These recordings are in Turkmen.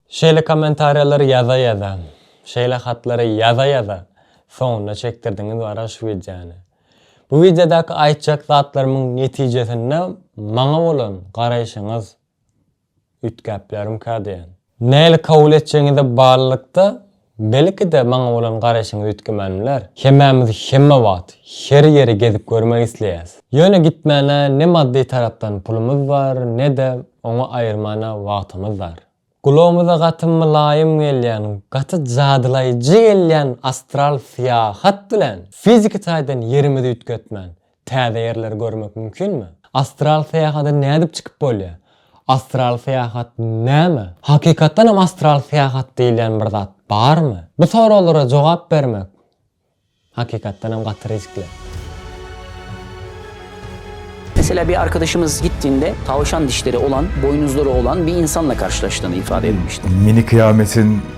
Şeýle kommentariýalary ýaza-ýaza, şeýle hatlary ýaza-ýaza soňuna çekdirdiňiz wara şu wideony. Bu wideodaky aýtjak zatlarymyň netijesinde maňa bolan garaýşyňyz üýtgäp bilerimka diýen. Nähili kabul etjegiňize baglylykda Belki-de maňa bolan garaýşyňy üýtgemen biler. Hemmämiz hemme wagt, her ýeri gezip görmek isleýäs. Ýöne gitmäne ne maddy tarapdan pulumyz bar, ne-de oňa aýyrmana wagtymyz bar. Gulagymyza gaty mylaýym gelýän, gaty jadylaýjy gelýän astral syýahat bilen fiziki taýdan ýerimizi üýtgetmän, Täze ýerleri görmek mümkinmi? Astral syýahada nädip çykyp bolýar? Astral syýahat näme? Hakykatdan hem astral syýahat diýilýän bir zat barmy? Bu soraglara jogap bermek hakykatdan hem gaty riskli. Meselä bir arkadaşymyz gitdiňde tawşan dişleri olan, boýnuzlary olan bir insanla karşylaşdygyny ifade etmişdi. Mini kıyametin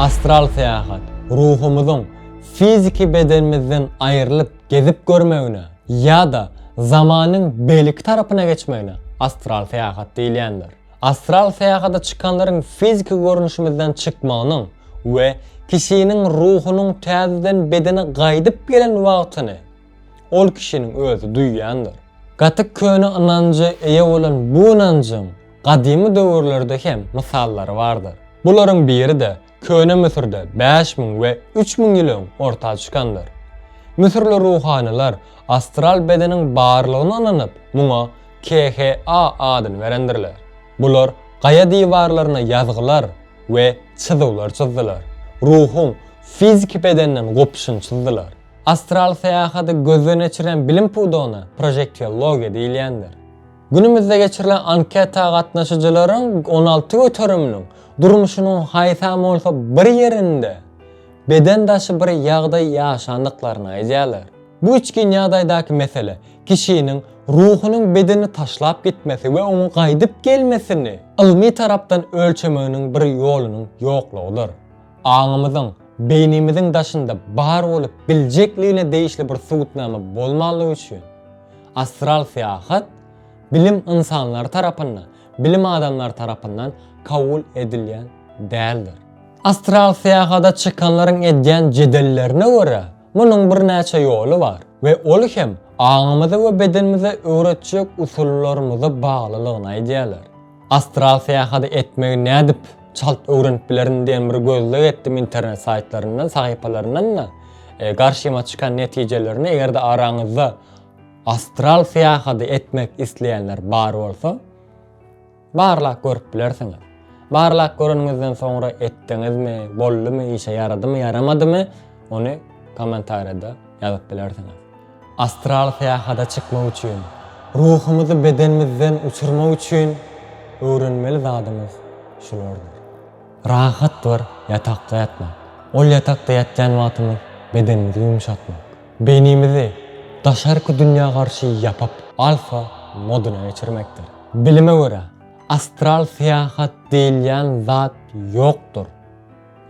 Astral syýahat, ruhumyzyň fiziki bedenimizden aýrylyp gezip görmegine ýa-da zamanyň beýleki tarapyna geçmegine astral syýahat diýilýändir. Astral syýahata çykanlaryň fiziki görnüşimizden çykmagynyň we kişiniň ruhunyň täzeden bedene gaýdyp gelen wagtyny, Ol kişiniň özi duýýandyr. Gaty köne ynanja eýe bolan bu ynanjyň gadymy döwürlerde hem mysallary bardyr. Bularyň biri-de köne Müsürde bäş müň we üç müň ýyl öň orta çykandyr. Müsürli ruhanylar astral bedeniň barlygyna ynanyp, muňa KHA adyny berendirler. Bular gaýa diwarlaryna ýazgylar we çyzywlar çyzdylar. Ruhuň fiziki bedenden gopuşyny çyzdylar. Astral syýahaty gözden geçirýän bilim pudagyna projektiologiýa diýilýändir. Günümizde geçirilen anketa gatnaşyjylaryň on alty göteriminiň durmuşynyň haýsam bolsa bir ýerinde beden daşy bir ýagdaý ýaşandyklaryny aýdýarlar. Bu içgin ýagdaýdaky mesele kişiniň ruhunyň bedeni taşlap gitmesi we oňa gaýdyp gelmesini ylmy tarapdan ölçemeginiň bir ýolunyň ýoklugydyr. Aňymyzyň, beýnimiziň daşynda bar bolup biljekligine degişli bir subutnama bolmanlygy üçin, astral syýahat, bilim ynsanlary tarapynda, bilim adamlary tarapyndan kabul edilýän däldir. Astral syýahada çykanlaryň edýän jedellerine görä, munuň birnäçe ýoly bar we ol hem aňymyza we bedenimize öwretjek usullarymyza baglylygyny aýdýarlar. Astral syýahaty etmegi nädip çalt öwrenip bilerin diýen bir gözleg etdim internet saýtlaryndan, sahypalaryndan-da. Garşyma çykan netijelerini eger-de araňyzda astral syýahaty etmek isleýänler bar bolsa, barlap görüp bilersiňiz. Barlap göreniňizden soňra etdiňizmi, boldumy, işe ýaradymy, ýaramadymy, ony kommentariýada ýazyp bilersiňiz. Astral syýahada çykmak üçin, ruhumyzy bedenimizden uçurmak üçin öwrenmeli zadymyz şulardyr. Rahat bir ýatakda ýatmak. Ol ýatakda ýatýan wagtymyz bedenimizi ýumşatmak. Beýnimizi daşarky dünýä garşy ýapyp, alfa modyna geçirmekdir. Bilime görä, astral syýahat diýilýän zat ýokdur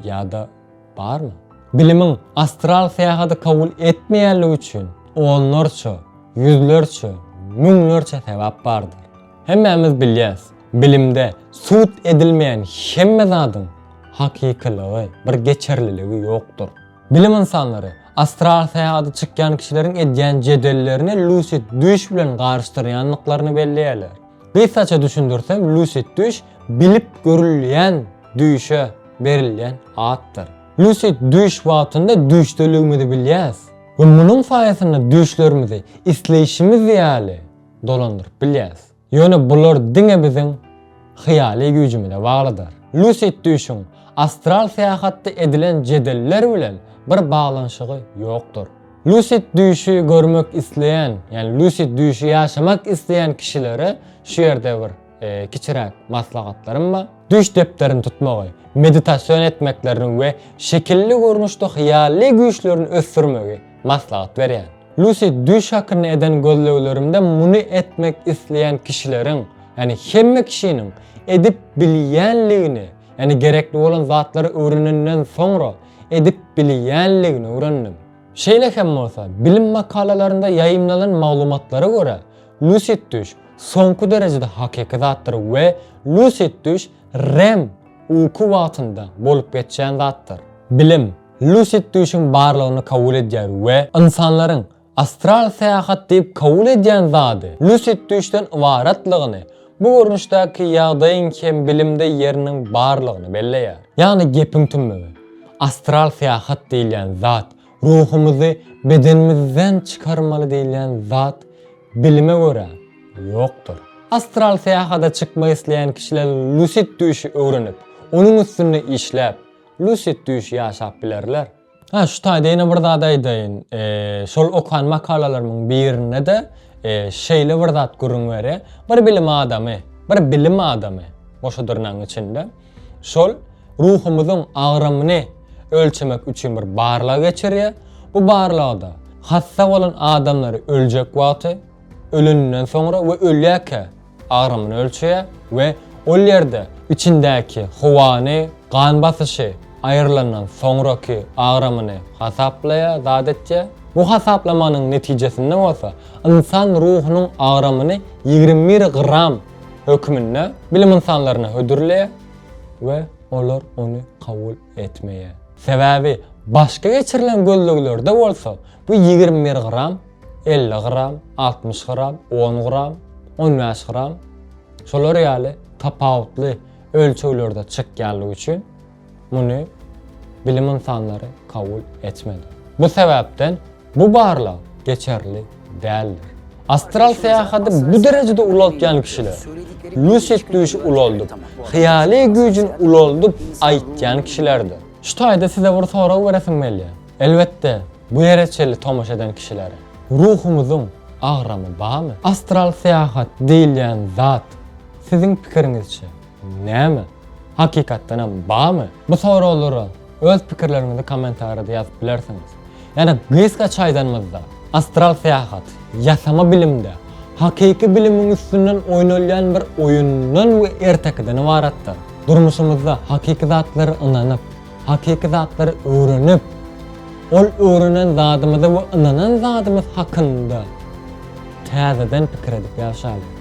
ýa-da Barmy? Bilimiň astral syýahaty kabul etmeýänligi üçin onlarça, ýüzlerçe, müňlerçe sebäp bardyr. Hemmämiz bilýäs, bilimde sud edilmeýän hemme zadyň hakykylygy, bir geçerliligi ýokdur. Bilim ynsanlary astral syýahata çykýan kişileriň edýän jedellerini lusid düýş bilen garyşdyrýandyklaryny belleýärler. Gysgaça düşündirsem, lusid düýş bilip görülýän düýşe berilýän atdyr. Lusid düýş wagtynda düýşdeligimizi bilýäs we munuň saýasynda düýşlerimizi isleýşimiz ýaly dolandyryp bilýäs. Ýöne bular diňe biziň hyýaly güýjümize baglydyr. Lusid düýşüň astral syýahatda edilen jedeller bilen bir baglanyşygy ýokdur. Lucid düýşi görmek isleýän, ýagny lucid düýşi ýaşamak isleýän kişilere şu ýerde bir kiçiräk maslahatlarym bar. Düýş depderini tutmagy, meditasion etmeklerini we şekilli görnüşde hyýaly güýçlerini ösdürmegi maslahat berýän. Lucid düýş hakynda eden gözleglerimde muny etmek isleýän kişileriň, ýagny hemme kişiniň edip bilýänligini, ýagny gerekli bolan zatlary öwrenenden soňra, edip bilýänligini öwrendim. Şeýle hem bolsa, bilim makalalarynda ýaýymlanan maglumatlara görä, lusid düş soňky derejede hakyky zatdyr we lusid düş REM uky wagtynda bolup geçýän zatdyr. Bilim lusid düşüň barlygyny kabul edýär we ynsanlaryň Astral syýahat diýip kabul edýän zady lusid düýşden ybaratlygyny, bu görnüşdäki ýagdaýyň hem bilimde ýeriniň barlygyny belleýär. Ýagny gepiň tümügi, astral syýahat diýilýän zat, ruhumyzy bedenimizden çykarmaly diýilýän zat bilime görä, ýokdur. Astral syýahada çykmak isleýän kişiler lusid düýşi öwrenip, onuň üstünde işläp, lusid düýşi ýaşap bilerler. Hä, şu taýda ýene bir zat aýdaýyn. Şol okan makalalarymyň birinde-de şeýle bir zat gürrüň berýär. Bir bilim adamy, bir bilim adamy, goşa dyrnagyň içinde, şol ruhumyzyň agramyny ölçemek üçin bir barlag geçirýär. Bu barlagda hassa bolan adamlary öljek wagty, öleninden soňra we ölýärkä agramyny ölçeýär we ol ýerde içindäki howany, gan basyşy, aýrylandan soňraky agramyny hasaplaýar, zat etýär. Bu hasaplamanyň netijesinde bolsa ynsan ruhunyň agramyny ýigrimi bir gram hökmünde bilim ynsanlaryna hödürleýär we olar ony kabul etmeýär. Sebäbi başga geçirilen gözleglerde bolsa bu ýigrimi bir gram elli gram, altmyş gram, on gram, on bäş gram şolar ýaly tapawutly ölçeglerde çykýanlygy üçin muny bilim ynsanlary kabul etmedi. Bu sebäpden bu barlag geçerli däldir. Astral syýahaty bu derejede ulaltýan kişiler, lucid düýşi ulaldyp, hyýaly güýjüni ulaldyp aýtýan kişilerdir. Şu taýda size bir sorag beresim gelýär. Elbetde, bu ýere çenli tomaşa eden kişilere ruhumyzyň agramy barmy? Astral syýahat diýilýän zat, siziň pikiriňizçe, näme? Hakykatdanam barmy? Bu soraglara öz pikirleriňizi kommentariýada ýazyp bilersiňiz. Ýa-da gysgaça aýdanymyzda, astral syýahat, ýasama bilimde, hakyky bilimiň üstünden oýnalýan bir oýundan we ertekiden ybaratdyr. Durmuşymyzda hakyky zatlara ynanyp, Hakyky zatlary öwrenip, ol öwrenen zadymyzy we ynanan zadymyz hakynda täzeden pikir edip ýaşalyň.